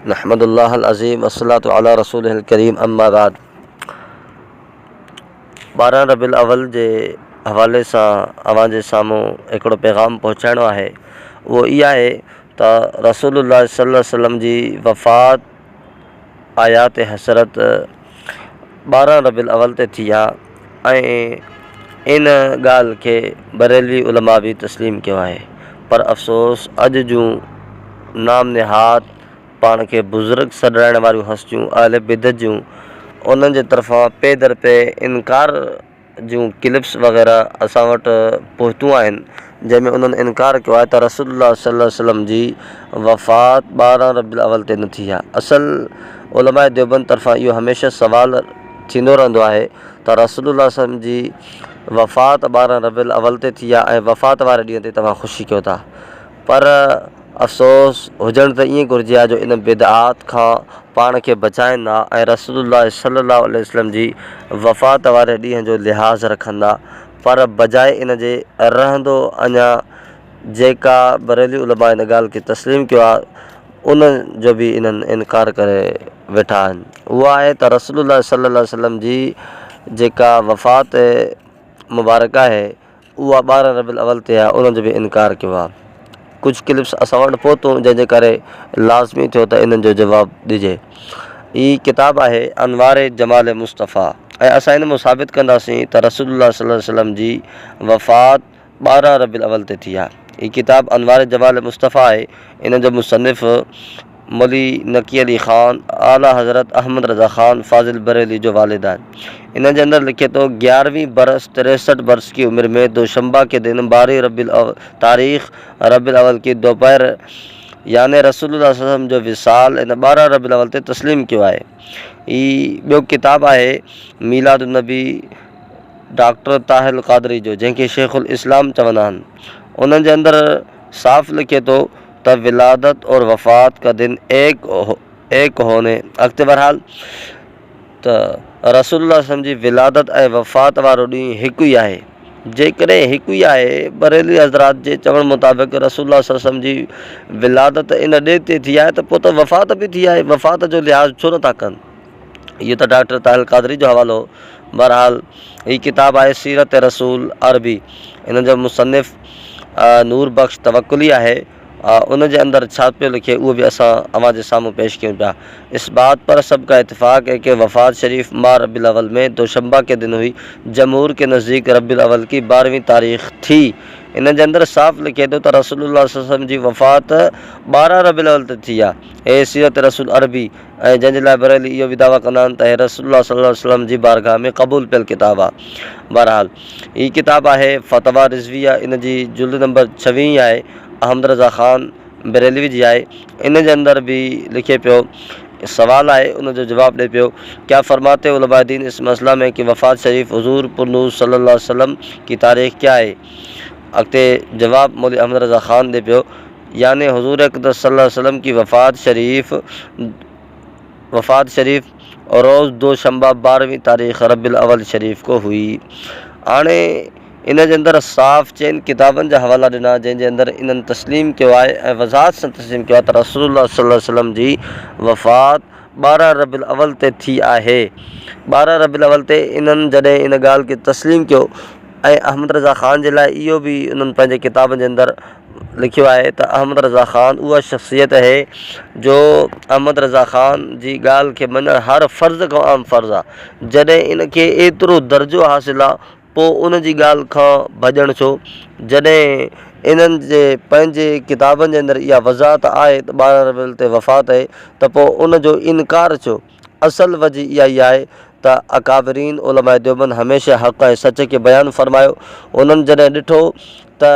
نحمد الله العظيم والصلاة علي رسوله الڪريم اما بعد ٻارهن ربيع الاول جي حوالي سان اوهان جي سامهون هڪڙو پيغام پهچائڻو آهي اهو هي آهي ته رسول الله صلي الله عليه وسلم جي وفات آيات حسرت ٻارهن ربيع الاول تي ٿي آهي ۽ ان ڳالهه کي بريلوي علماء به تسليم ڪيو آهي پر افسوس اڄ جون نام نهاد پاڻ کي بزرگ سڏرائڻ واريون هستيون اهل بدعت جون انهن جي طرفان پي در پي انڪار جون ڪلپس وغيره اسان وٽ پهتون آهن جنهن ۾ انهن انڪار ڪيو آهي ته رسول الله صلي الله عليه وسلم جي وفات ٻارهن ربيع الاول تي نه ٿي آهي. اصل علماء ديوبند طرفان اهو هميشه سوال ٿيندو رهندو آهي ته رسول الله صلي الله عليه وسلم جي وفات ٻارهن ربيع الاول تي ٿي آهي ۽ وفات واري ڏينهن تي توهان خوشي ڪيو ٿا پر افسوس هجڻ ته ائين گهرجي ها جو ان بدعات کان پاڻ کي بچائين ها ۽ رسول الله صلي الله عليه وسلم جي وفات واري ڏينهن جو لحاظ رکندا پر بجاء ان جي رهندو اڃا جيڪا بريلوي علماء ان ڳالهه کي تسليم ڪيو آهي ان جو به انهن انڪار ڪري ويٺا آهن اهو آهي ته رسول الله صلي الله عليه وسلم جي جيڪا وفات مبارڪ آهي اها ٻارهن ربيع الاول تي آهي ان جو به انڪار ڪيو آهي ڪجهه ڪلپس اسان وٽ پهتون جنهن جي ڪري لازمي ٿيو ته انهن جو جواب ڏجي. هي ڪتاب آهي انوار جمال مصطفيٰ ۽ اسان هن مان ثابت ڪنداسين ته رسول الله صلي الله عليه وسلم جي وفات ٻارهن ربيع الاول تي ٿي آهي. هي ڪتاب انوار جمال مصطفيٰ آهي ان جو مصنف. مولوي نقي علي خان اعليٰ حضرت احمد رضا خان فاضل بريلوي جو والد آهي. انهن جي اندر لکي ٿو، گيارهوين برس تريسٺ برس ڪي عمر مين دوشنبه ڪي دن بارهين ربيع الاول تاريخ ربيع الاول ڪي دوپهر يعني رسول الله صلي الله عليه وسلم جو وصال ان ٻارهن ربيع الاول تي تسليم ڪيو آهي. هي ٻيو ڪتاب آهي ميلاد النبي ڊاڪٽر طاهر القادري جو جنهن کي شيخ الاسلام چوندا آهن. انهن جي اندر صاف لکي ٿو. ته ولادت اور وفات ڪا دن ايڪ ايڪ هوني اڳتي بهرحال ته رسول الله وسلم جي ولادت ۽ وفات وارو ڏينهن هڪ ئي آهي جيڪڏهن هڪ ئي آهي بريلوي حضرات جي چوڻ مطابق رسول الله صلي الله وسلم جي ولادت ان ڏينهن تي ٿي آهي ته پوء ته وفات به ٿي آهي وفات جو لحاظ ڇو نٿا ڪن اهو ته ڊاڪٽر طاهر القادري جو حوالو هو. بهرحال هي ڪتاب آهي سيرت رسول عربي ان جو مصنف نور بخش توڪلي آهي ان جي اندر ڇا پيو لکي اهو به اسان اوهان جي سامهون پيش ڪيون پيا اس بات پر سب ڪا اتفاق هي ڪي وفات شريف ماھ ربيع الاول مين دوشنبه ڪي دن هئي جمهور ڪي نزديڪ ربيع الاول ڪي بارهوين تاريخ ٿي ان جي اندر صاف لکي ٿو ته رسول الله صلي الله عليه وسلم جي وفات بارهن ربيع الاول تي ٿي آهي هي سيرت رسول عربي ۽ جنهن جي لاء بريلي اهو به دعويٰ ڪندا آهن ته هي رسول الله صلي الله عليه وسلم جي بارگاهه ۾ قبول پيل ڪتاب آهي. بهرحال هي ڪتاب آهي فتويٰ رضويه ان جي جلد نمبر ڇويهين آهي احمد رضا خان بريلوي جي آهي ان جي اندر به لکي پيو سوال آهي ان جو جواب ڏئي پيو ڪيا فرماتي علماء دين اس مسئله مين ڪي وفات شريف حضور پرنور صلي الله عليه وسلم ڪي تاريخ ڪيا هي اڳتي جواب مولوي احمد رضا خان ڏئي پيو. يعني حضور اقدس صلي الله عليه وسلم ڪي وفات شريف وفات شريف روز دو شنبه بارهوين تاريخ ربيع الاول شريف ڪو هئي هاڻي ان جي اندر صاف چئن ڪتابن جا حوالا ڏنا جنهن جي اندر انهن تسليم ڪيو آهي ۽ وضاحت سان تسليم ڪيو آهي ته رسول الله صلي الله عليه وسلم جي وفات ٻارهن ربيع الاول تي ٿي آهي ٻارهن ربيع الاول تي انهن جڏهن ان ڳالهه کي تسليم ڪيو ۽ احمد رضا خان جي لاء اهو به انهن پنهنجي ڪتابن جي اندر لکيو آهي ته احمد رضا خان اها شخصيت اهي جو احمد رضا خان جي ڳالهه کي مڃڻ هر فرض کان اهم فرض آهي جڏهن ان کي ايترو درجو حاصل آهي پوء ان جي ڳالهه کان ڀڄڻ ڇو جڏهن انهن جي پنهنجي ڪتابن جي اندر اها وضاحت آهي ته ٻارهن ربيع الاول تي وفات اهي ته پوء ان جو انڪار ڇو اصل وجه اها ئي آهي ته اڪابرين علماء ديوبند هميشه حق ۽ سچ کي بيان فرمايو. انهن جڏهن ڏٺو ته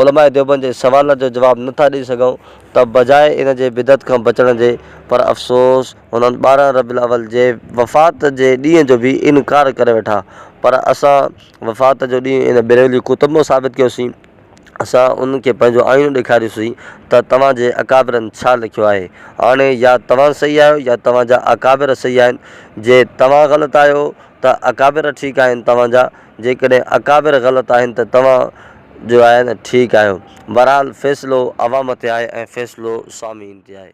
علماء ديوبند جي سوالن جو جواب نه ٿا ڏئي سگهون ته بجاء ان جي بدعت کان بچڻ جي پر افسوس هنن ٻارهن ربيع الاول جي وفات جي ڏينهن جو به انڪار ڪري ويٺا پر اسان وفات جو ڏينهن ان بيرولي ڪتب مان ثابت ڪيوسين. اسان انهن کي پنهنجو آئينو ڏيکاريوسين ته توهان جي اڪابرن ڇا لکيو آهي. هاڻي يا توهان صحيح آهيو يا توهان جا اڪابر صحيح آهن. جي توهان غلط آهيو ته اڪابر ٺيڪ آهن توهان جا، جيڪڏهن اڪابر غلط آهن ته توهان جو آهي نه ٺيڪ آهيو. بهرحال فيصلو عوام تي آهي ۽ فيصلو سامعين تي آهي.